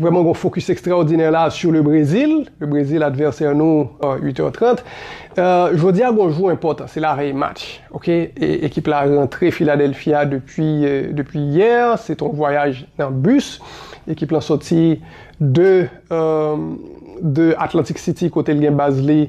Vrèman gon fokis ekstraòdinè la sou le Brezil, le Brezil advèsè nou 8 è 30. Jodi a gon jou enpòtan, se lavèy match ok, ekip la rantre Philadelphie a depi depi yè, se t on vwayaj nan bus, ekip lan sòti de de Atlantic City kote l gen baz li,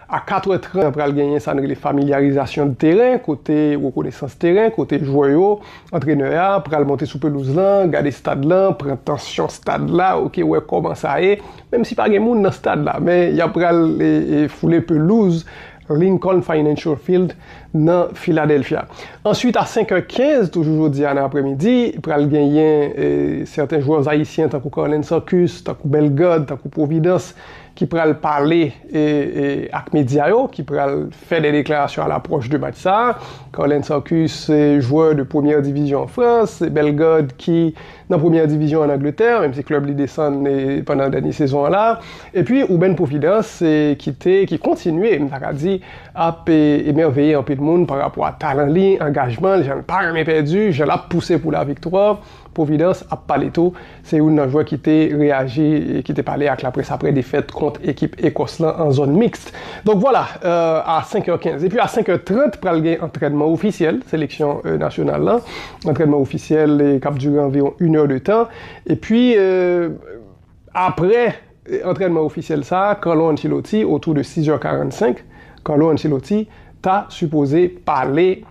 A 4 è 30 pral genyen sa n rele familyarizasyon de teren kote rekonesans teren kote jwè yo, antrenè a pral monte sou pelouz lan, gade stad lan, pran tansyon stad la ok wè kòman sa ye menm si pa gen moun nan stad la men y ap pral foule pelouz Lincoln Financial Field nan Philadelphia. Answit a 5 è 15 toujou jodi a nan apremidi pral genyen sèten jwèz ayisyen tankou Carlens Arcus, tankou Bellegarde, tankou Providence ki pral pale ak medya yo, ki pral fè de deklarasyon a lapròch de match sa a. Carlens Sarcus se jwè de premyè divizyon an Frans, se Bellegarde ki nan premyè divizyon an Angletè, menm si klèb li desann pandan dènye sezon an la. Epi Ruben Providence ki te, ki kontinye, m ta ka di, ap emèveye anpil moun parapò a talan li, angajman l, jan l pa renmen pèdi, jan l ap pouse pou laviktwa. Providence ap pale tou, se youn nan jwè ki te reyaji, ki te pale ak laprès aprè defèt kont ekip Ekòs lan an zòn mixte. Donk vwala, a 5 è 15. Epi a 5 è 30 pral gen antrènman ofisyèl seleksyon nasyonal lan, antrènman ofisyèl k ap dire anviwon 1 è de tan. Epi aprè. Antrènman ofisyèl sa a, Carlo Ancelotti, otou de 6 zè 45, Carlo Ancelotti ta sipoze pale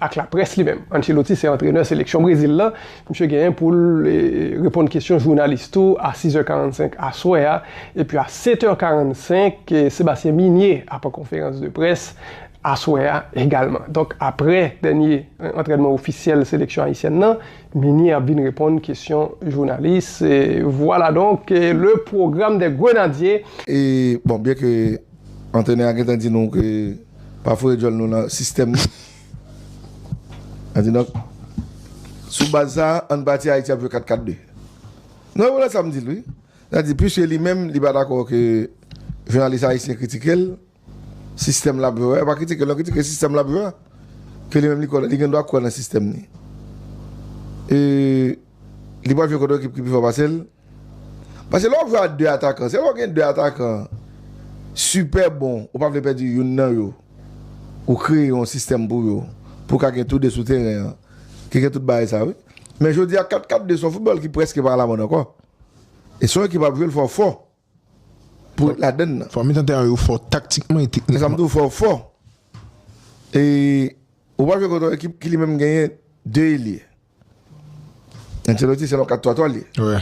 ak laprès li menm. Ancelotti se antrenè seleksyon Brezil lan, misye genyen pou l reponn kesyon jounalis tou a 6 zè 45 aswè a, epi a 7 è 45, Sébastien Migné ap an konferans de près aswè a egalman. Donk aprè dènye antrènman ofisyèl seleksyon ayisyèn lan, Ninie ap vin reponn kesyon jounalis. Vwala donk le pwogram dè grenadye. E bon byen ke antrenè a gentan di nou ke pa foure djòl nou nan sistèm li. An di donk sou baz sa an pati Ayiti ap jwe 4 4 2. Non e wè sa m di l wi. Sa di pwiske li menm li pa dakò ke jounalis ayisyen kritike l. Sistèm lap jwe, pa kritike l non, kritike sistèm lap jwe. Ke li menm li kwè, li gen dwa kwè nan sistèm li. E li pral jwe kont yon ekip ki pi fò pase l. Pase lè wap jwe a 2 atakan, se lè w gen 2 atakan sipè bon, ou pa vle pèdi youn nan yo, ou kreye yon sistèm pou yo, pou w ka gen tou 2 sou teren an, ki gen tout bagay sa wi. Men jodi a 4-4-2 se yon foutbòl ki prèske pa alamòd ankò. E se yon ekip ap jwe l fò fò. pou ret ladann nan. Fò mitan tèran yo fò taktikman e teknikman. E sa m di w fò fò. E ou pral jwe kont yon ekip ki li menm genyen 2 elye. Ancelotti se yon 4-3-3 l ye.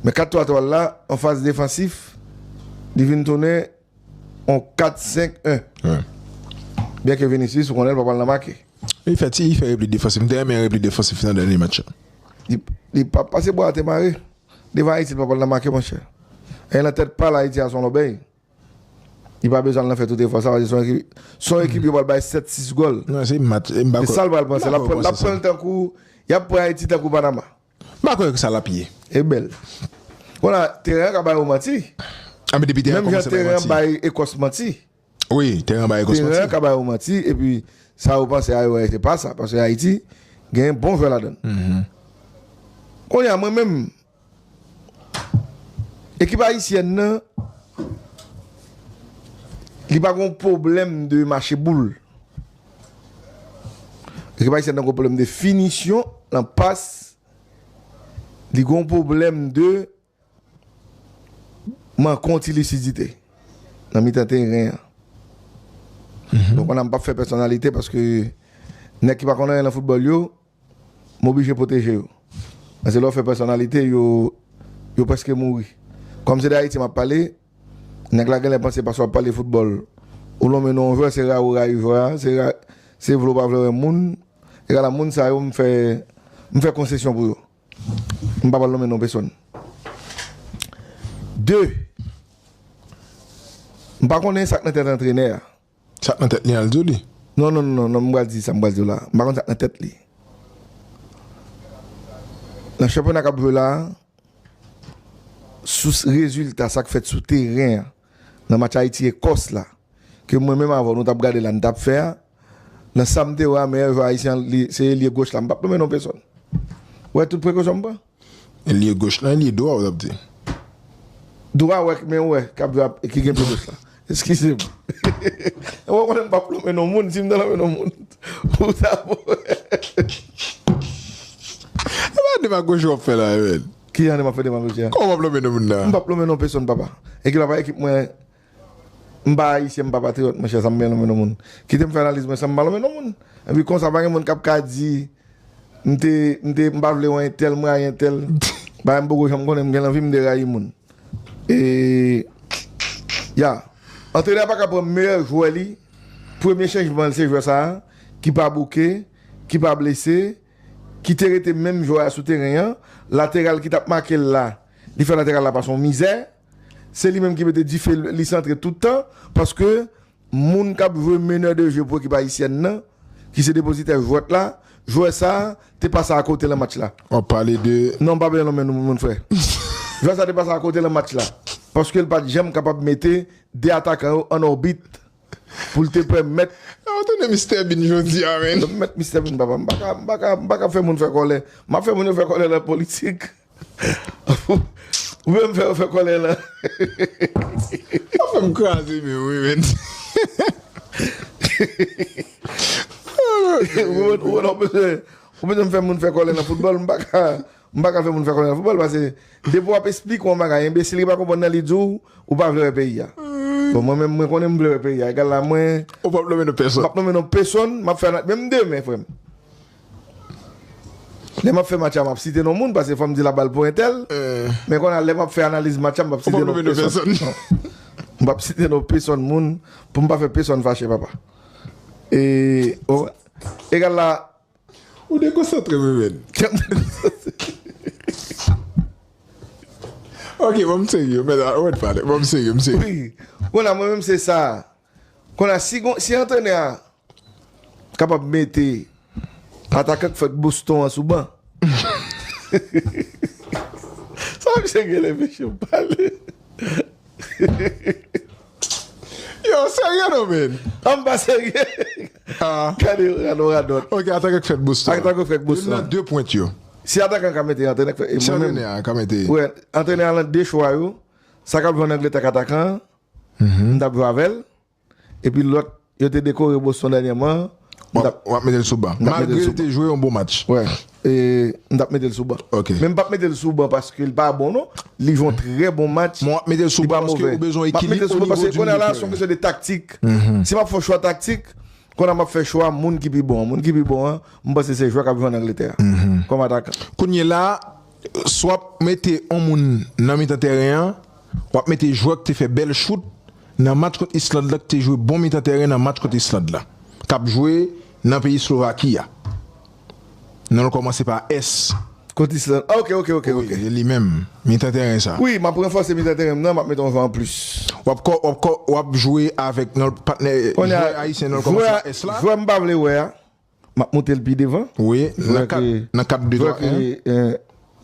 Men 4-3-3 l la an faz defansif li vin tounen yon 4-5-1. Byen ke Vinicius ou konnen l pa pral nan make. Li fè ti, li fè repli defansif. M te renmen repli defansif nan dènye match la. Li pa pase bwa a te mare. Devan Ayiti li poko nan make monchè. Ayè nan tèt pal Ayiti a son lòbèy. Li pa bezwen al nan fè tout efò sa paske son ekip yo pral bay 7 6 gòl. Se sal pral panse. Lap pranl tankou yap pran Ayiti tankou Panama. M pa kwè sa lap ye. E bèl. Konnya teren an ka bay ou manti. Menm jan teren an bay Ekòs manti. Wi, teren an ba Egos manti. Teren an ka ba yo manti epi sa yo panse a yo wè se pa sa paske Ayiti gen bon jwè ladan l. Kounye a mwen menm ekip ayisyèn nan li pa gon pwoblèm de mache boul. Ekip ayisyèn nan gon pwoblèm de finisyon nan pas, li gon pwoblèm de Manke yon ti lisidite nan mitan teren an. Donk an a m pap fè pèsonalite paske nèg ki pa konn anyen nan foutbòl yo, m oblije pwoteje yo. Paske lè w fè pèsonalite yo, yo prèske mouri. Kòm se de Ayiti m ap pale, nèg la genlè panse paske w ap pale foutbòl ou lonmen non yon jwè se rayi w rayi jwè a, se vle w pa vle w renmen moun. Egalabmoun sa yo m fè konsesyon pou yo. M pa pral nonmen non pesonn. De, m pa konnen sa k nan tèt antrenè a. Sa k nan tèt li an, l di w li? Non, non, non, non, m pral di sa m pral di w la. M pa konn sa k nan tèt li. Nan chanpyona k ap jwe la a, sou rezilta sa k fèt sou teren an, nan match Ayiti-Ekòs la, ke mwen menm avè w nou t ap gade la, nou t ap fè a, Nan sa m te wè a, meyè jwè ayisyen an, li se elye goch la. M p ap nonmen non pesòn. Ou wè tout prekosyon m pran? Elye goch lan, elye dwa ou t ap di? Dwa wè, men wè, k ap jwe ap, ki gen pye goch la. Eskize m. Ou pa konnen m p ap nonmen non moun. Si m ta nonmen non moun, ou ta wè. E pa demagoji w ap fè la a, Emèl? Ki jan de m ap fè demagoji a? Kòman w p ap nonmen non moun la a? M p ap nonmen non pesòn, papa. Ekip la pa ekip mwen. M pa Ayisyen, m pa patriyòt mon chè, sa m gen nan men yon moun? Kite m fè analiz mwen san m pa nan men yon moun. Epi konsa pa gen moun k ap ka di m te, m te, m pa vle wè entèl, m rayi entèl. Bagay m poko janm konnen, m gen lanvi m derayi moun. E, ya. Antrenè a pa ka pran meyè jwè li, premye chanjman l se jwè sa a, ki pa bouke, ki pa blese, ki te rete menm jwè a sou teren an, lateral ki t ap make l la, li fè lateral la pase yon mizè. se li menm ki mete dife li santre tout tan paske moun kap jwe meneur de jeu pou ekip ayisyèn nan ki se depozitè jwèt la jwè sa te pase a kote lan match la. Wap pale de. Non mpa pale non men moun frè. Jwè sa te pase a kote lan match la paskel pat janm kapab mete 2 atakan yo an òbit poul te pèmèt. Sa ou tounen Mister Bean jodia menn. Mwen met Mister Bean papa mpaka mpaka mpaka fè moun fè kòlè map fè moun yo fè kòlè lan politik. Ou menm fè yo fè kòlè la. Wap fèm kraze menw wi menn. Ou wè lè ou bezwen fè moun fè kòlè nan foutbòl m paka m paka fè moun fè kòlè nan foutbòl pase depi wap esplike yon bagay enbesil ki pa konprann nan li diw ou pa vle wè peyi a. Bon mwen menm mwen konnen m vle wè peyi a egal la mwen. Ou pap nonmen non pèsòn. M pap nonmen non pèsòn map fè menm demen frèm. Lè map fè match la map site non moun paske fòm di la bal pou entèl men konnya lè map fè analiz match la m pap site non pèsòn m pap site non pèsòn moun poum pa fè pèsòn fache papa e o egal la ou dekonsantre m men ok bon m serye men la ou mèt pale bon m serye m serye konnya mwen menm se sa. Kon la si gon si antrenè a kapab mete atakan k fèk Boston an sou ban. Sa misye genlè mesye ap pale. Yow serye non menn. An m pa serye. Gade yon radòt. Ok atakan k fèk Boston. Atakan k fèk Boston. Youn nan 2 pwent yo. Si atakan an ka mete antrenè k fèk. Si antrenè a ka mete. Wè antrenè a lan 2 chwa yo. Sa kap jwe an Angletè ak atakan an. m tap jwe avèl epi lòt yo te dekore Boston dènyèman an wap metel sou ban malgre li te jwe yon bon match m tap metel sou ban men m pap metel sou ban paske li pa bon non li jwe yon trè bon match map metel sou ban paske ou bezwen ekilib ou bezwen ekilib konnya la se yon kesyon de taktik si map fè yon chwa taktik konnya map fè chwa moun ki pi bon an moun ki pi bon an m panse se jwè kap jwe an Angletè a kòm atakan. Kounye la. Si w ap mete yon moun nan mitan tèren an, w ap mete jwè ki te fè bèl chout nan match kont Island la, ki te jwe bon mitan tèren nan match kont Island la, k ap jwe nan peyi Slovaki a. Non l kòmanse pa S. Kont Island. A ok, ok, ok, ok. Wi, se li menm, mitan tèren sa. Wi, m ap ranfòse mitan tèren m nan, m ap mete yon jwè anplis. W ap kò, w ap kò, w ap jwe avèk non l patnè, jwè ayisyen non l kòmanse pa S la. Jwè m pa vle wè a, Map moute l pi devan. Wi, nan kad, nan kad 2, 3, 1.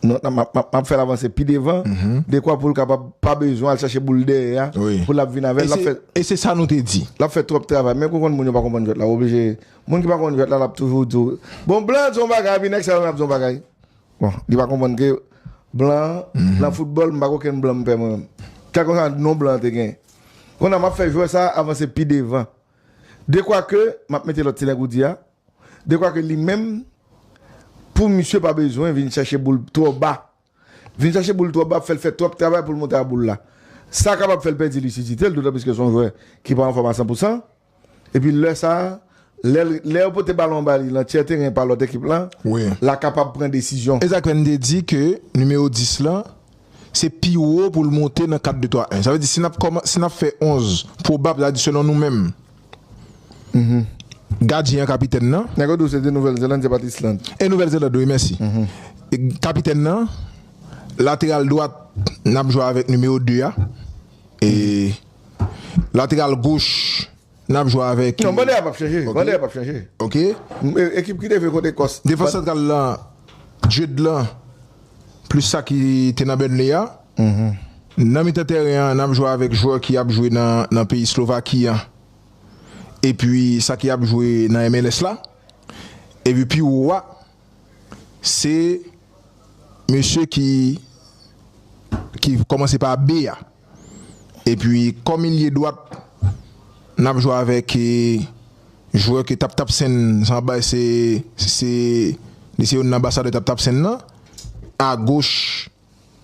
Non, nan map fè l avanse pi devan, dekwa pou l kapab pa bezwen al chache boul dèyè a pou l ap vin avè l. E se sa nou te di. L ap fè twòp travay. Men kou konn moun yo pa konprann jwèt la, w oblije, moun ki pa konn jwèt la l ap toujou di w, bon blan an di w yon bagay epi nèg sa yo menm ap di w yon bagay. Bon, li pa konprann ke blan an, nan foutbòl m pa gen okenn blan m pè mwen menm. Kèlkonsa non blan an te gen. Konnya map fè jwè sa a avanse pi devan. Dekwake, m ap mete lòt ti nèg ou di a, dekwake li menm pou misye pa bezwen vin chache boul twò ba. Vin chache boul twò ba ap fè l fè twòp travay pou l monte a boul la. Sa kapab fè l pèdi lisidite l, dotanplis ke se yon jwè ki pa anfòm a san pou san. Epi lè sa a, lè l, lè yo pote balon an ba li lan tyè teren pa lòt ekip lan, l a kapab pran desizyon. E sa k fè n te di ke nimewo 10 lan se pi wo pou l monte nan 4 2 3 1. Sa vle di si n ap kòman si n ap fè 11 pwobab sa vle di selon nou menm gadyen an kapitèn nan. Nèg yo di w se te Nouvèl Zeland se pa t Island. E Nouvèl Zeland wi mèsi. Kapitèn nan, lateral dwat n ap jwe avèk nimewo 2 a e lateral goch. Nap jwe avèk. Non bande a pap chanje. Bande a pap chanje. Ok. Ekip ki leve kont Ekòs. Defans santral la Jude lan plis sa ki te nan Burnley a. Nan mitan tèren an nap jwe avèk jwè ki ap jwe nan peyi Slovaki an epi sa ki ap jwe nan MLS la. Epi pi wo a se mesye ki kòmanse pa B a. Epi kòm ilye dwat nap jwe avèk jwè ke tap tap sen san bay se se li se youn nan anbasadè tap tap sen nan. A goch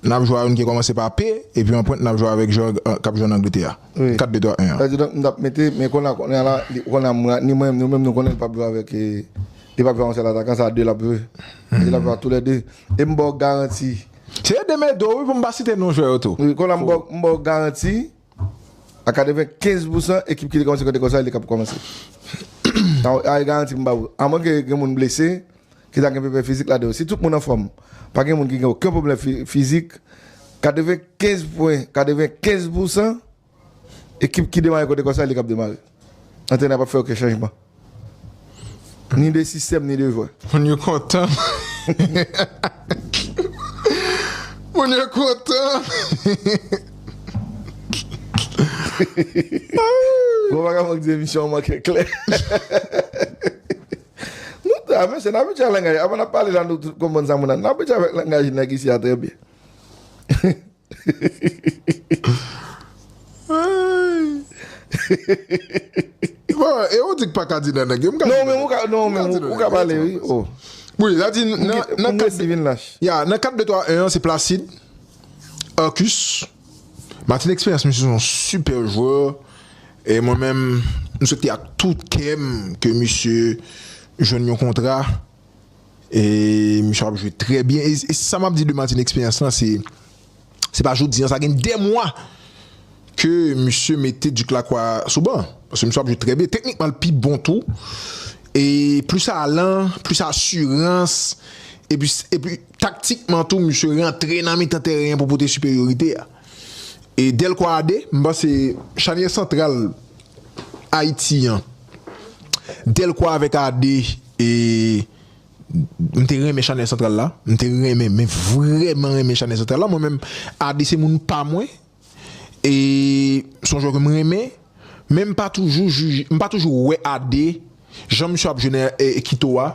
nap jwe a youn ki kòmanse pa P epi an pwent nap jwe avèk jwè kap jwe an Angletè a. 4 2 3 1 an. Kidonk nou tap mete men kona kounya la kona ni mwen nou menm nou konnen li pap jwe avèk li pap jwe a yon sèl atakan sa a 2 lap jwe. Li lap jwe a tou lè 2. E m baw garanti Se yo de Medo wi pou m pa site non jwè yo tou. Kon la m ba w garanti a 95 pousan ekip ki te kòmanse kòte kò sa li te kapab kòmanse. A e garanti m ba w. A mwen ke gen moun blese ki ta gen pèpè fizik ladan yo. Si tout moun anfòm, pa gen moun ki gen oken pwoblèm fizik, 95 pwen, 95 pousan. Ekip ki demare kote konsa li kap demare. Antrenè a pap fè oken chanjman. Ni de sistèm ni de jwè. Moun yo kontan. Moun yo kontan. Bon bagay Franck di emisyon an manke klè. Nou ta mesye n abitye a langaj. Avan n ap pale la nou tout konprann sa moun ap. N abitye avèk langaj nèg isi a trè byen. E ou di k pa ka di nan nèg yo? M ka di nan nèg yo. Non men ou ka, ou ka pale wi. Wi, la di nan kat. Pou Messi vin lach. Ya, nan 4 2 3 1 an se Placide, Arcus, Martin Expérience misye son super joueur e mwen menm m swete ak tout kè m ke misye jwenn yon kontra. E misye ap jwe trè byen. E sa map di de Martin eksperyans lan se se pa jodi an sa gen 2 mwa ke misye mete Duc Lacroix sou ban. Paske misye ap jwe trè byen. Teknikman l pi bon tou. E plis alan, plis asirans. E pi taktikman tou misye rantre nan mitan tèren an pou pote siperyorite a. e Delco a 2, m panse chanyè santral Ayiti an Delco avèk a 2 e m te renmen chanyè santral la, m te renmen men vrèman renmen chanyè santral la mwen menm a 2 se moun pa mwen e son jwè ke m renmen men m pa toujou jije, m pa toujou wè a 2 jan misye ap jwe nan Quito a.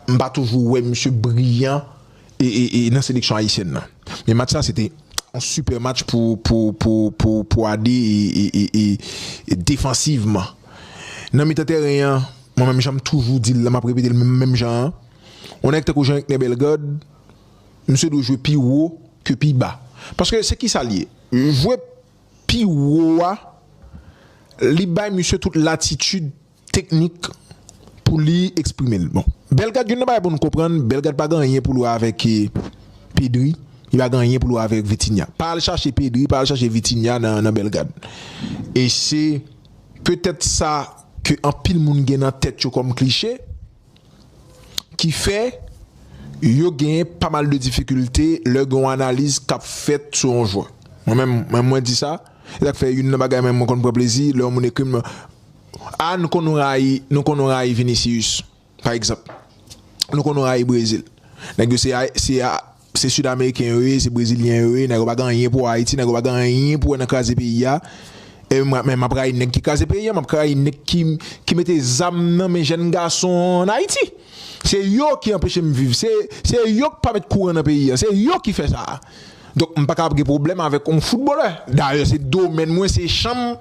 m pa toujou wè misye briyan nan seleksyon ayisyèn nan. Men match sa se te yon sipè match pou Ade defansivman. Nan mitan tèren an, mwen menm jan m toujou di l la, m ap repete l menm jan an, yon nèg tankou Jean Ekner Bellegarde, misye dwe jwe pi wo ke pi ba. Paske se kisa l ye? Jwe pi wo a, li bay misye tout latitid teknik pou li eksprime l. Bon Bellegarde youn nan bagay pou nou konprann Bellegarde pa gen anyen pou l wè avèk Pedri, li pa gen anyen pou l wè avèk Vitinha. Pa al chache Pedri, pa al chache Vitinha nan Bellegarde. E se petèt sa ke anpil moun gen nan tèt yo kòm kliche ki fè yo gen pa mal de difikilte lè gen yon analiz k ap fèt sou yon jwè. Mwen menm mwen di sa, e sa k fè youn nan bagay mwen konn pran plezi lè yon moun ekri m Ah nou konn rayi nou konn rayi vinicius pa egzanp nou konn rayi brezil nèg yo se a se a se sud ameriken yo ye se brezilyen yo ye nèg yo pa gen anyen pou ayiti nèg yo pa gen anyen pou wè nan kraze peyi a e mwen men map rayi nèg ki kraze peyi a map rayi nèg ki ki mete zam nan men jèn gason an ayiti se yo ki anpeche m viv se se yo k pa met kouran nan peyi a se yo ki fè sa. Donk m paka ap gen pwoblèm avèk yon foutbolè. Dayè se domèn mwen, se chanm m.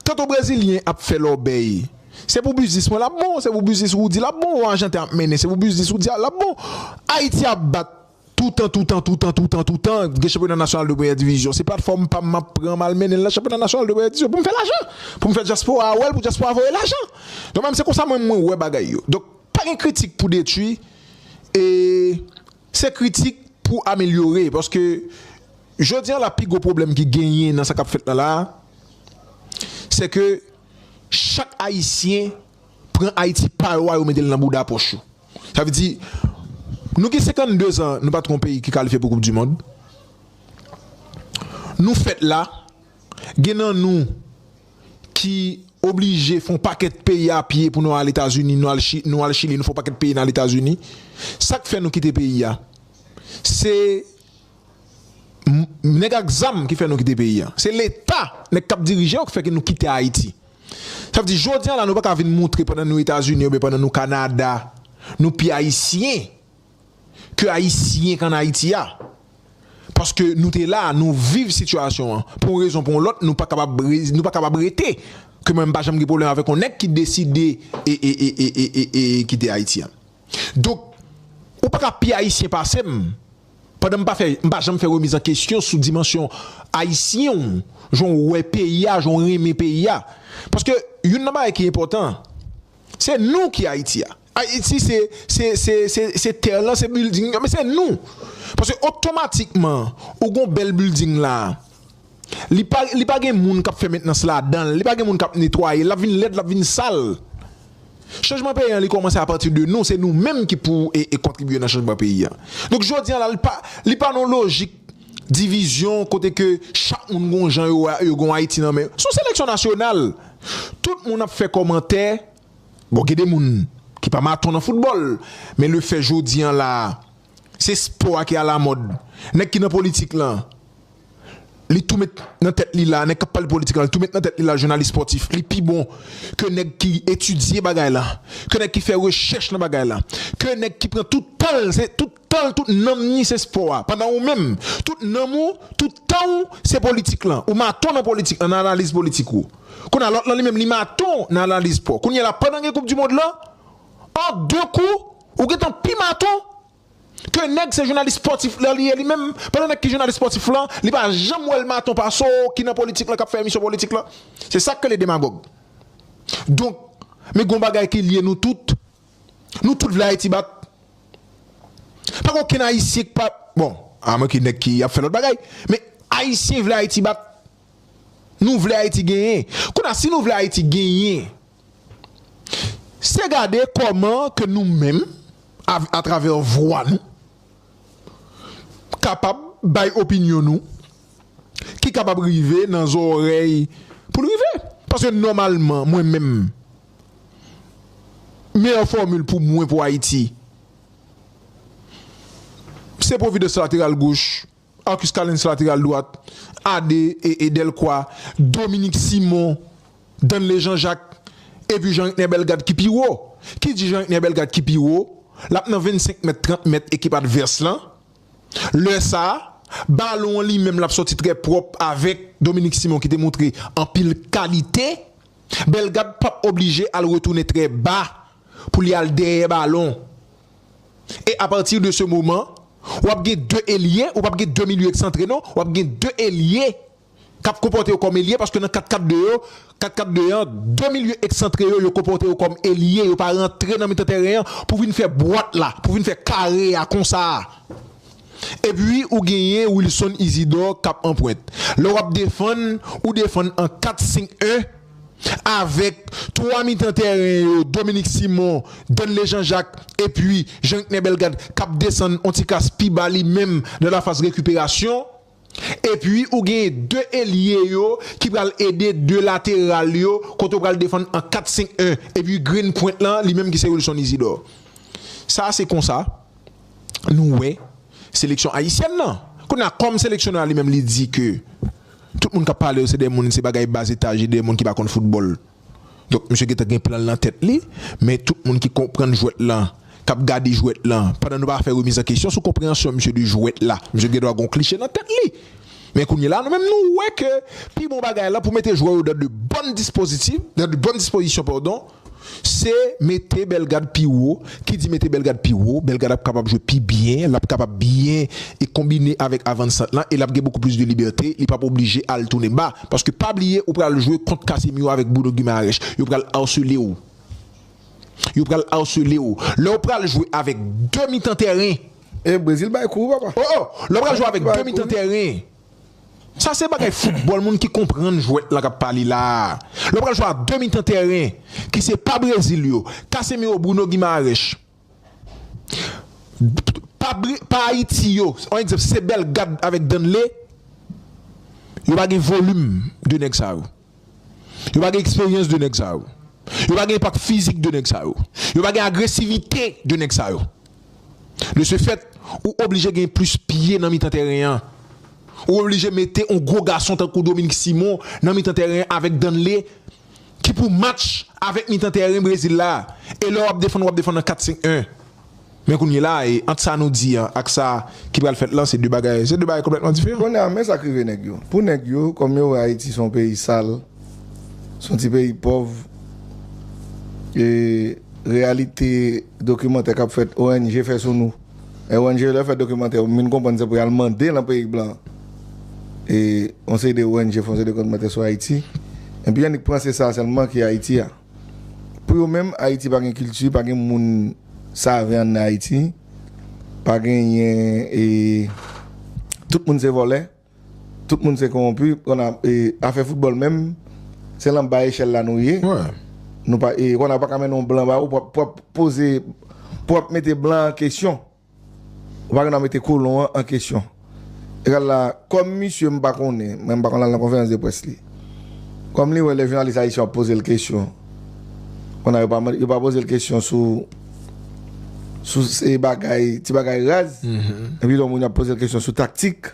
Tanto brezilyen ap fè lòbèy, se pou biznis mwen l ap bon, se pou biznis Roody l ap bon, ou ajanten ap mennen se pou biznis Roody a l ap bon. Ayiti ap bat toutan toutan toutan toutan toutan gen chanpyona nasyonal de premyè divizyon. Se platfòm pa m m ap pran m al mennen l nan chanpyona nasyonal de premyè divizyon pou m fè lajan, pou m fè dyaspora a wè l, pou dyaspora voye lajan. Donk mwen menm se konsa mwen mwen wè bagay yo. Donk pa gen kritik pou detwi e. Se kritik pou amelyore paske jodi a la pi gwo pwoblèm ki genyen nan sa kap fèt la la a se ke chak ayisyen pran Ayiti pa yo a yo mete l nan bouda pòch yo. Sa vle di nou gen 52 zan nou pa tron peyi ki kalifye pou koup di mond nou fèt la gen nan nou ki oblije fon pakèt peyi a pye pou nou al etazini nou al chili nou al chili nou fon pakèt peyi nal etazini sak fè nou kite peyi a se nèg ak zam ki fè nou kite peyi a se leta nèg kap dirije yo ki fè nou kite ayiti sa vle di jodia la nou paka vin moutre pandan nou etazini oubyen pandan nou kanada nou pi ayisyen. ke ayisyen k an Ayiti a. Paske nou te la, nou viv sitiyasyon an. Pou yon rezon pou yon lòt nou pa kapab nou pa kapab rete. Ke mwen m pa janm gen pwoblèm avèk yon nèg ki deside e kite Ayiti a. Donk ou pa ka pi ayisyen pase m. Pandan m pa fè m pa janm fè remiz an kesyon sou dimansyon ayisyen w. Jan w wè peyi a, jan w renmen peyi a. Paske youn nan bagay ki enpòtan, se nou ki Ayiti a. Ayiti se se terre lan se building yo men se nou paske otomatikman ou gon bèl building la li pa li pa gen moun kap fè mentnans ladanl li pa gen moun kap netwayel lap vin lèd lap vin sal chanjman peyi an li kòmanse apati de nou se nou menm ki pou e kontribye nan chanjman peyi an donk jodi an la li pa li pa nan lojik divizyon kote ke chak moun gon jan yo wè yo gon Ayiti nan men son seleksyon nasyonal tout moun ap fè kòmantè. Bon gen de moun ki pa maton nan foutbòl men le fè jodi an la a se spò a ki alamòd nèg ki nan politik lan li tou met nan tèt li la nèg kap pale politik lan li tou met nan tèt li la jounalis spòtif li pi bon ke nèg ki etidye bagay lan ke nèg ki fè rechèch nan bagay lan ke nèg ki pran tout tan l se tout tan l, tout nanm ni se spò a, pandan ou menm, tout nanm ou, tout tan ou, se politik lan. Ou maton nan politik lan, nan analiz politik ou. Kounye a, lòt lan li menm, li maton nan analiz spò. Kounye a la, pandan gen koupdimond lan, an de kou, ou gen tan pi maton ke nèg se jounalis spòtif lan li ye li menm, pandan nèg ki jounalis spòtif lan, li pa janm wè l maton pase w ki nan politik lan k ap fè emisyon politik lan. Se sa k rele demagòg. Donk, men gen yon bagay ki lye nou tout, Nou tout vle Ayiti bat. Pa gen okenn Ayisyen k pa, bon, a mwen ke nèg ki ap fè lòt bagay, men Ayisyen vle Ayiti bat. Nou vle Ayiti genyen. Kounye a, si nou vle Ayiti genyen, se gade kòman ke nou menm, atravè vwa nou, kapab bay opinyon nou, ki kapab rive nan zòrèy pou l rive. Paske nòmalman, mwen menm. Meyè fòmil pou mwen pou Ayiti se Providence lateral goch, Arcus Callens lateral dwat, Ade e Delcroix, Dominique Simon, Danley Jean Jacques epi Jean Rickner Bellegarde ki pi wo. Ki di Jean Rickner Bellegarde ki pi wo, l ap nan 25 mèt, 30 mèt ekip advès lan. Lè sa, balon an li menm l ap sòti trè pwòp avèk Dominique Simon ki te montre anpil kalite. Bellegarde pap oblije al retounen trè ba pou li al dèyè balon e a pati de se moman w ap gen 2 elye, ou pap gen 2 milye eksantre non, w ap gen 2 elye k ap konpòte yo kòm elye paske nan 4 4 2 yo, 4 4 2 an, 2 milye eksantre yo yo konpòte yo kòm elye, yo pa rantre nan mitan tèren an pou vin fè bwat la, pou vin fè kare a konsa. Epi ou genyen Wilson Isidor k ap anpwent. Lè w ap defann, ou defann an 4 5 1 avèk 3 mitan tèren yo Dominique Simon, Danley Jean Jacques epi Jean Ritner Bellegarde k ap desann on ti klas pi ba li menm nan lafaz rekiperasyon. Epi ou gen 2 elye yo ki pral ede 2 lateral yo kote ou pral defann an 4-5-1 epi grenn pwent lan li menm ki se Wilson Isidor. Sa se konsa nou wè seleksyon ayisyèn nan. Kounye a kòm seleksyonè a li menm li di ke tout moun k ap pale yo se 2 moun se bagay bas etaj e 2 moun ki pa konn foutbòl. Donk misye gentan gen plan nan tèt li, men tout moun ki konprann jwèt lan, kap gade jwèt lan, pandan nou pa fè remiz an kesyon sou konpreyansyon misye de jwèt la, misye gen dwa gon kliche nan tèt li. Men kounye la nou menm nou wè ke pi bon bagay la pou mete jwè yo dan de bòn dispozitiv, dan de bòn dispozisyon pardon, se mete Bellegarde pi wo, Ki di mete Bellegarde pi wo, Bellegarde ap kapab jwe pi byen, l ap kapab byen e konbine avèk avannsant lan e l ap gen beaucoup plus de liberté, li p ap oblije al tounen ba. Paske pa bliye ou pral jwe kont Casemiro avèk Bruno Guimaraes, yo pral harsele w. Yo pral harsele w. Lè w pral jwe avèk 2 mitan tèren. E Brésil bay kou wi papa. Oh oh! Lè w pral jwe avèk 2 mitan tèren. Sa se bagay foutbòl moun ki konprann jwèt la k ap pale la a. Lè w pral jwe a 2 mitan tèren ki se pa Brezil yo, Casemiro, Bruno Guimaraes, pa Ayiti yo, an egzanp se Bellegarde avèk Danley, yo pa gen volim 2 nèg sa yo. Yo pa gen eksperyans 2 nèg sa yo. Yo pa gen enpak fizik 2 nèg sa yo. Yo pa gen agresivite 2 nèg sa yo. De se fèt, ou oblije gen plis pye nan mitan tèren an. Ou oblije mete yon gwo gason tankou Dominique Simon nan mitan tèren an avèk Danley ki pou match avèk mitan tèren Brezil la. E lè w ap defann, w ap defann an 4-5-1. Men kounyela a, e ant sa nou di an ak sa ki pral fèt lan, se 2 bagay, se 2 bagay konplètman diferan. Kounye a, men sa k rive nèg yo. Pou nèg yo, kòm yo wè Ayiti se yon peyi sal, se yon ti peyi pòv, e reyalite dokimantè k ap fèt, ong fè sou nou, e ong yo lè yo fè dokimantè yo, m vin konprann se pou y al mande lan peyi blan an, e yon seri de ong fè yon seri de kòmantè sou Ayiti, enpi annik pran se sa sèlman ki Ayiti a. Pou yo menm Ayiti pa gen kilti, pa gen moun save an Ayiti, pa genyen e tout moun se vòlè, tout moun se konwonpi, konn e afè foutbòl menm se lan ba echèl la nou ye, nou pa e konn a ou pa ka mennen yon blan ba ou pou ap pou ap poze pou ap mete blan an kesyon. Ou pa gen dwa mete kolon an an kesyon. Egal la, kòm misye m pa konnen, mwen m pa konn al nan konferans de près li. Kòm li wè lè jounalis ayisyen ap poze l kesyon, konn a yo pa mande, yo pa poze l kesyon sou sou se bagay, ti bagay raz, men pito moun y ap poze l kesyon sou taktik.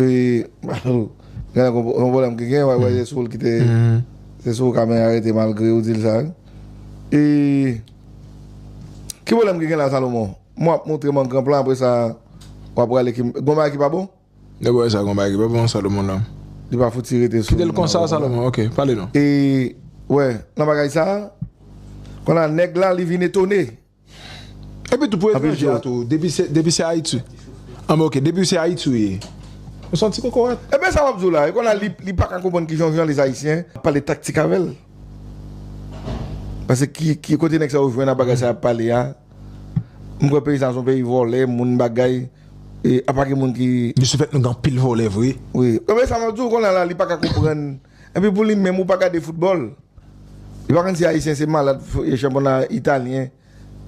Gen yon pwoblèm ki gen, wè wè se sou l ki te, se sou kamera rete malgre ou di l sa. Ki pwoblèm ki gen la Salomon? Mwen ap montre m an gran plan apre sa w ap rale ki, gon bagay ki pa bon? Nèg wè sa gon bagay ki pa bon Salomon la. Li pa fouti rete sou. Kite l konsa Salomon, ok, pale non. E wè nan bagay sa, konn a nèg la li vin etone, Epi tou pou etranje a tou, depi se Ayiti, an bon ok, depi se Ayiti ou ye, ou son ti kokorat. Ebyen sa wap di w la, e kon la li paka konprann kijan jounalis ayisyen ap pale taktik avè l. Pase ki kote nèg sa yo jwenn a bagay sa yap pale a. M kwè peyi sa son peyi vòlè, moun bagay, e apa gen moun ki. Desi fèt nou gen anpil vòlè vre. Wi, ebyen sa map di w kon la li paka konprann. Epi pou li menm ou pa gade foutbòl? Li pa konn si ayisyen se malad chanpyona italyen,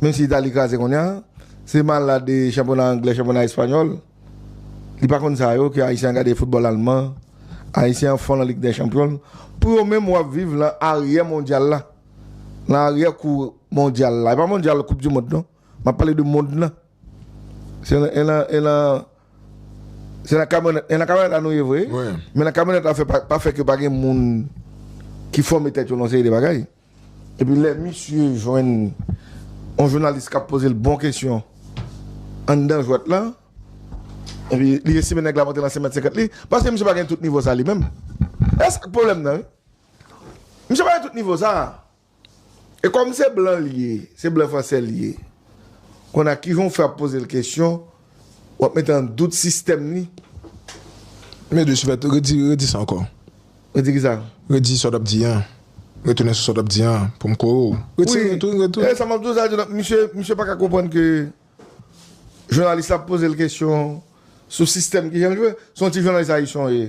menm si Itali kraze kounya, se malad chanpyona anglè, chanpyona espanyòl. Li pa konn sa yo ke ayisyen an gade foutbòl alman, ayisyen an fon lan lig dè chanpyon. Pou yo menm wap viv lan aryè mondyal la, lan aryè kou mondyal la. E pa mondyal koup di mond non, map pale de mond lan. Se nan kamyonèt la nou ye vre, men nan kamyonèt la pa fè ke pa gen moun ki fòme tèt yo nan yon seri de bagay. E pi lè misye jwenn yon jounalis k ap poze l bon kesyon anndan jwèt la, e pi li estime nèg la monte nan 5 mèt 50 li, paske misye pa gen tout nivo sa li menm. E sa k pwoblèm nan wi. Misye pa gen tout nivo sa a. E kòm se blan li ye, se blan franse li ye, konn a ki jan w fè ap poze l kesyon, w ap mete an dout sistèm li? Men de Chevètre, redi, redi sa ankò. Redi ki sa? Redi sa w t ap di an. Retounen sou sa w t ap di an an, pou m kore w. Retire l tou, retounen. E sa m ap di w sa, Jonas, misye, misye pa ka konprann ke jounalis la ap poze l kesyon sou sistèm ki jan l jwe. Se yon ti jounalis Ayisyen w ye.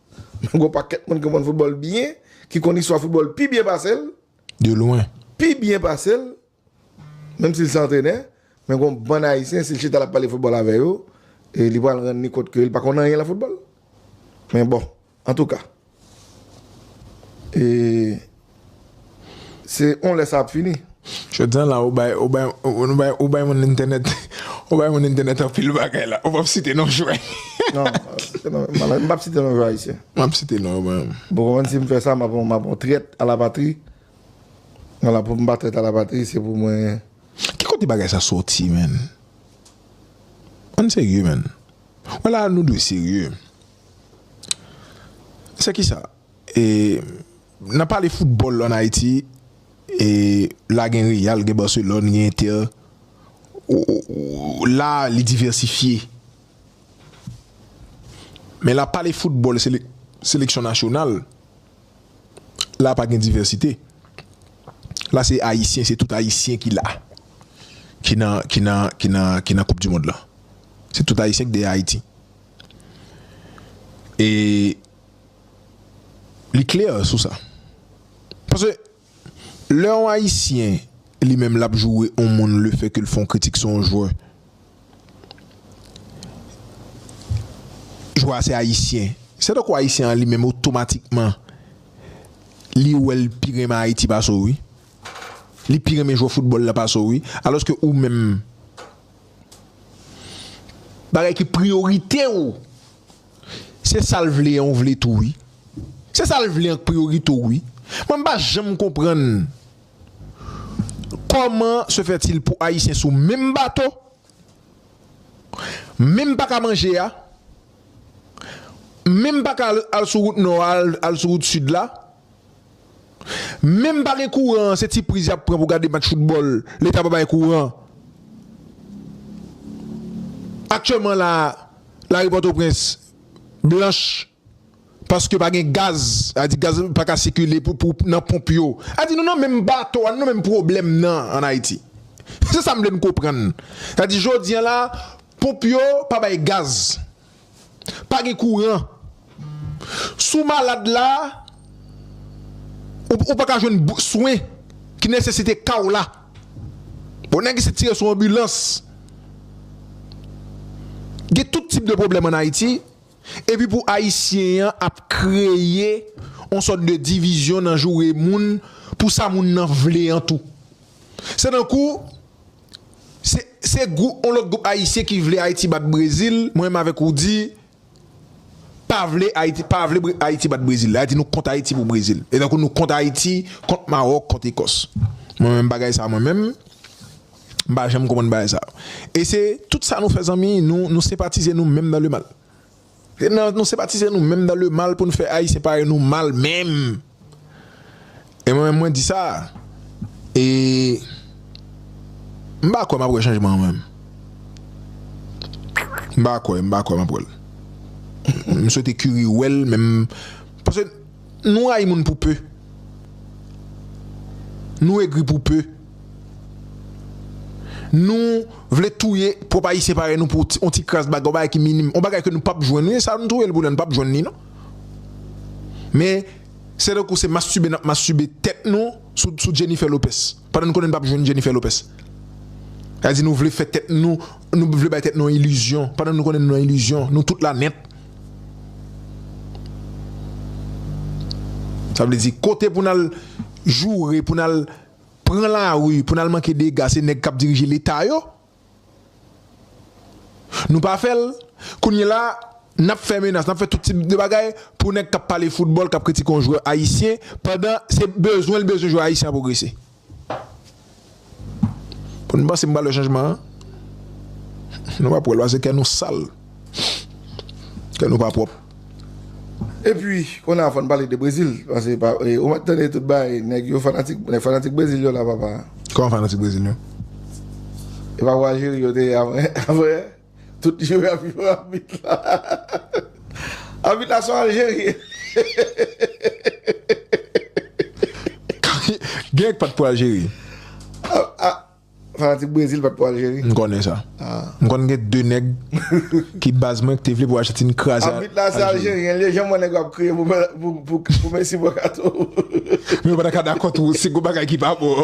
Men gwo pakèt moun ki konn foutbòl byen, ki konn istwa foutbòl pi byen pase l. De lwen. Pi byen pase l, menm si l se antrenè. Men gwo bann Ayisyen, si l chita l ap pale foutbòl avè yo, li pral rann ni kont ke li pa konn anyen lan foutbòl. Men bon, antouka. E. Se on lè sa ap fini. Jodi an la ou bay ou bay ou bay moun entènèt ou bay moun entènèt anpil bagay la ou pap site non jwè. Non m pap site non jwè ayisyen. M ap site non yo mwen menm. Bon konprann si m fè sa m ap m ap on trèt a la patri wala pou m pa trèt a la patri se pou mwen. Ki kote bagay sa soti menn? Ann serye menn. Wè la nou dwe serye. Se kisa? E nan pale foutbòl an Ayiti e la gen Real, gen Barcelone, gen Inter la li divèsifye. Men la pale foutbòl seleksyon nasyonal la pa gen divèsite. La se Ayisyen, se tout Ayisyen ki la. Ki nan, ki nan, ki nan, ki nan koup dimond la. Se tout Ayisyen ki dèyè Ayiti. E. Li klè sou sa. Paske lè yon ayisyen li menm lap joure yon moun le fè ke l fè yon kritik sou yon jwè. Jwè a se ayisyen. Se tankou ayisyen an li menm otomatikman li wè l pi renmen Ayiti pase w wi. Li pi renmen jwè foutbòl la pase w wi. Alòske ou menm bagay ki priyorite w. Se sal vle an ou vle tou wi. Se sal vle an k priyorite w wi. Mwen m pa janm konprann Koman se fè til pou ayisyen sou menm bato menm pa ka manje a menm pa ka al sou wout nò a al sou wout sid la. Menm pa gen kouran an se ti priz yap pran pou gade match foutbòl leta pa bay kouran aktyèlman la a lari pòtoprens blanch paske pa gen gaz a di gaz pa ka sikile pou nan ponp yo a di nou nan menm bato a nou nan menm pwoblèm nan an ayiti se sa m vle n konprann a di jodi an la ponp yo pa bay gaz. pa gen kouran si w malad la ou paka jwenn swen ki nesesite ka w la bon nèg isit tire sou anbilans gen tout tip de pwoblèm an Ayiti epi pou ayisyen an ap kreye yon sòt de divizyon nan joure moun pou sa moun nan vle an tou se tankou Se se gou on lòt gwoup ayisyen ki vle Ayiti bat Brezil, mwen menm avèk Roody pa vle Ayiti pa vle Ayiti bat Brezil. Lè a di nou kont Ayiti pou Brezil. E tankou nou kont Ayiti, kont Mawòk, kont Ekòs. Mwen menm bagay sa mwen menm, m pa janm konprann bagay sa. E se tout sa nou fè zanmi, nou nou senpatize nou menm nan le mal. Se nan nou sepatize nou menm nan le mal pou nou fè ayisyen parèy nou mal menm. E mwen menm mwen di sa e m pa kwè m ap wè chanjman an menm. M pa kwè, m pa kwè m ap wè l. M swete Curie wè l men m paske. Nou rayi moun pou peu. Nou egri pou peu. Nou vle touye pwop ayisyen parèy nou pou on ti kras bagay, on bagay ki minim, on bagay ke nou pap jwenn. Wi sa nou touye l pou lè nou pap jwenn li non. Men se tankou se mastube nap mastube tèt nou sou Jennifer Lopez. Pandan nou konnen nou pap jwenn Jennifer Lopez. Sa vle di nou vle fè tèt nou, nou vle bay tèt nou on ilizyon. Pandan nou konnen nou nan ilizyon, nou tout la nèt. Sa vle di kote pou nal joure, pou nal pran la rue, pou nal manke dega se nèg kap dirije leta yo. Nou pa fèl, kounye la nap fè menas, nap fè tout tip de bagay pou nèg kap pale foutbòl, kap kritike yon jwè ayisyen pandan se bezwenl bezwen jwè ayisyen an pwogrese. Pou nou panse m pa lè chanjman an Nou pap wè l pase kè nou sal Kè nou pa pwòp Epi kounye a fò n pale de Brezil Pase ou mèt tande tout bagay Nèg yo fanatik Nèg fanatik Brezil yo la papa Kòman fanatik Brezil yo? Epa Wajiri yo te ye avan yè? Tout jwe ap jwe abit la. Abit la son aljeryen. Gen k pat pou Aljeri. Fanatik Brezil pat pou Aljeri. M konnen sa. M konn gen 2 nèg ki baz mwen ki te vle pou Ajantin kraze Aljeri. Abit la se aljeryen l ye, janm wè nèg yo ap kriye pou Messi bwè katon. Mwen pa ta ka dakò tou si gon bagay ki pa bon.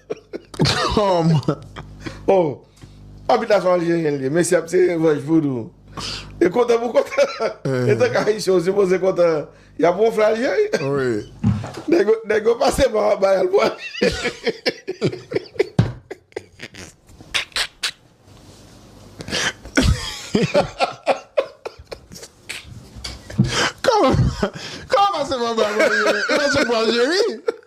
Tom! Oh! Papit la son Aljeryen li ye, mesye ap tire vèj vodou. E kontan pou kontan. E tank Ayisyen ou sipoze kontan y ap wonfle Aljeryen. Nèg yo pase pa anba y al pou Aljeryen. Kòman pase pa anba y pou Aljeryen? Yo pase pou Aljeri.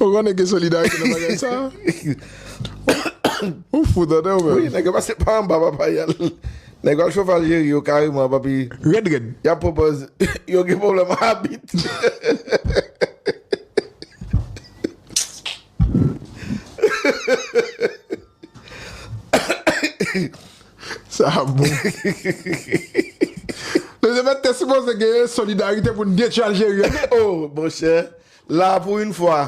Ou konnen gen solidarite nan bagay sa? Ou fou tande ou menm? Wi, nèg yo pase pa anba papa yal. Nèg yo al chofe Aljeri yo kareman papi. Rèd rèd. Y ap pwopòz yo gen pwoblèm abit. Sa a bon. Lezepèt te sipoze gen yon solidarite pou n gen ti Aljeri an wi oo. Monchè, la a pou yn fwa,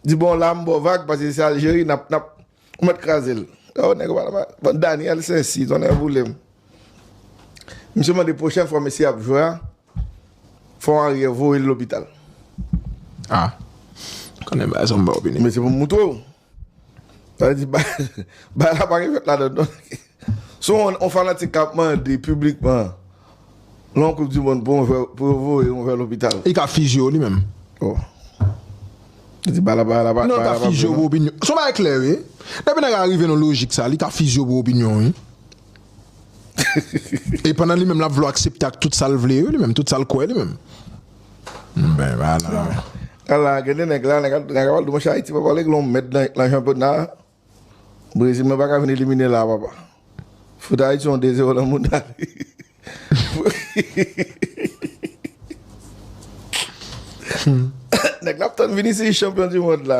di bon la a m ba w vag pase se Aljeri n ap, n ap, ou mèt kraze l. Oh nèg yo pa nan bagay. Bon Daniel Sensi, tonnè boule m. Misye mande pwochen fwa mesye ap jwe a, fò w anriyè voye l lopital. Ah. Konnen bagay sa w m ba w opinyon. Men se pou m moutre w. Sa vle di bagay la pa gen fèt ladann non. Se yon fanatik k ap mande piblikman lè yon koup di mond pou yo voye yon vè lopital. Li ka fizye yo li menm. Oh. Li di bagay la pa vre non. Non, li ka fizye yo pou opinyon. Se yon bagay klè wi. Depi nèg la rive nan lojik sa, li ka fizye yo pou opinyon wi. E pandan li menm l ap vle w aksepte ak tout sa l vle yo li menm, tout sa l kwè li menm. Ala gen de nèg la, nèg la kapab di monchè Ayiti papa li gon mèt nan chanpyona a. Brezil mwen pa ka vin elimine la papa. Fout Ayiti yon 2 zero nan mouda li. Nèg la ap tann Vinicius chanpyon di mond la.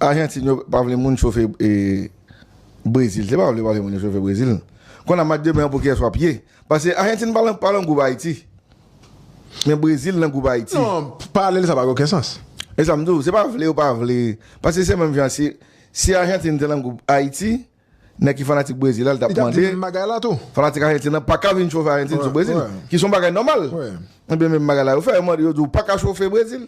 Argentine yo pa vle moun chofe Brazil se pa vle yo pa vle moun yo chofe Brazil kon a match demen an pou kiyès wap ye paske Argentine pa nan gwoup Haïti men Brazil nan gwoup Haïti. Non paralèl sa pa gen oken sans. Esam diw se pa vle yo pa vle paske se menm jan si Argentine te nan gwoup Haïti. Nèg ki fanatik Brezil la, li t ap mande, fanatik Ajentin an pa ka vin chofe Ajentin sou Brezil, ki s on bagay nòmal. Ebyen menm bagay la yo fè, yo mande, yo di w pa ka chofe Brezil,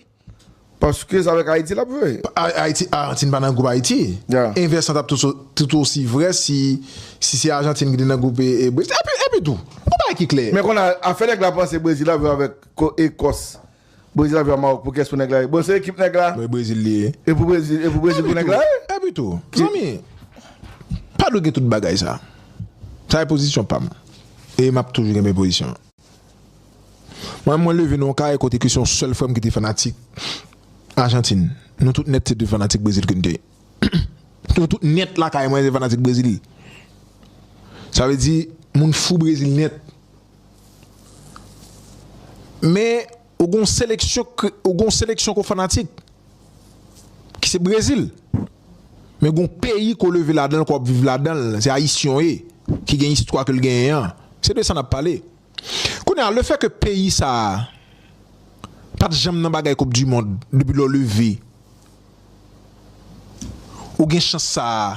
paske s avèk Ayiti l ap jwe. Ayiti, Ajentin pa nan gwoup Ayiti. Envès lan t ap tout osi vrè si se Ajentin ki te nan gwoup Brezil. Epitou, yon bagay ki klè. Men konn a, afè nèg la panse Brezil ap jwe avèk Ekòs Brezil ap jwe a Maroc pou kès pou nèg la ye? Bon se ekip nèg la. Mwen Brezil li ye. E pou Brezil e pou Brezil pou nèg la ye? Epitou zanmi pa dwe gen tout bagay sa. Sa e pozisyon pa m. E m ap toujou kenbe pozisyon an. Mwen menm mwen leve nan yon kay kote ke se yon sèl frè m ki te fanatik Ajantin. Nou tout nèt se te fanatik Brezil ke n te ye. Nou tout nèt lakay mwen se fanatik Brezil. Sa vle di moun fou Brezil nèt. Men ou gon seleksyon ou gon seleksyon ko fanatik ki se Brezil men gon peyi ko leve ladan l ko ap viv ladan l se ayisyen w ye ki gen istwa ke l genyen an se de sa n ap pale kounye a lefè ke peyi sa a pat janm nan bagay koup dimond depi lè w leve Ou gen chans sa a.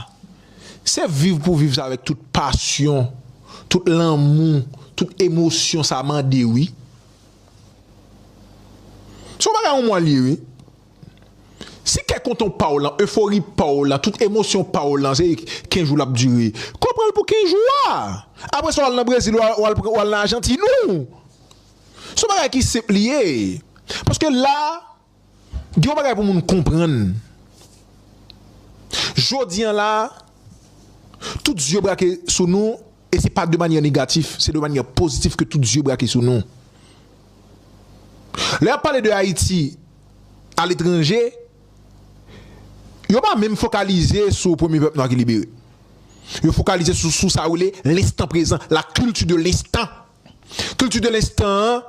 Se viv pou viv sa avèk tout pasyon, tout lanmou, tout emosyon sa mande wi. Se yon bagay yon mwa li ye wi. Si kè kontan w pa w lan, efori pa w lan, tout emosyon pa w lan se 15 jou l ap dire. Kò w pran l pou 15 jou a. Apre sa w al nan Brezil ou al nan Ajantin ou. Se yon bagay ki senp li ye. Paske la. Gen yon bagay pou moun konprann. Jodi an la, tout zye brake sou nou e se pa de manyè negatif, se de manyè pozitif ke tout zye brake sou nou. Lè y ap pale de Ayiti aletranje, yo pa menm fokalize sou premye pèp nwa ki libere. Yo fokalize sou sa yo rele l' instant présent, la culture de l'instant. Culture de l'instant an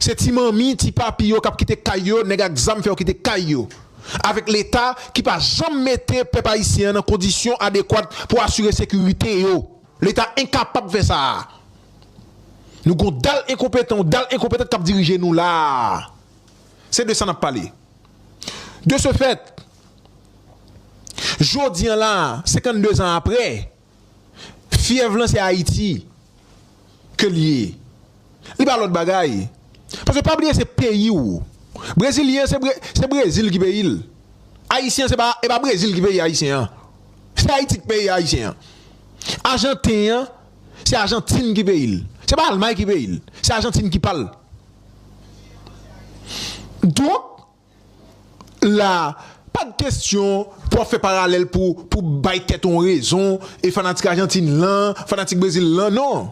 se ti manmi, ti papi yo kap kite kay yo, nèg ak zam fè yo kite kay yo. Avèk leta ki pa janm mete pèp ayisyen an nan kondisyon adekwat pou asire sekirite yo. Leta enkapab fè sa a. Nou gen yon dal enkonpetan, yon dal enkonpetant kap dirije nou la a. Se de sa nap pale. De ce fait, jodi an la a, 52 zan aprè, Fyèv lan se Ayiti ke li ye. Li pa lòt bagay. Paske pa bliye se peyi ou. Brezilyen se Brezil ki peyi l. Ayisyen se pa e pa Brezil ki peyi Ayisyen an. Se Ayiti ki peyi Ayisyen an. Ajanten an se Ajantin ki peyi l. Se pa Almay ki peyi l. Se Ajantin ki pa l. Donk. la pa de kestyon pou wap fè paralèl pou pou bay tèt ou yon rezon e fanatik ajantin lan fanatik brezil lan non.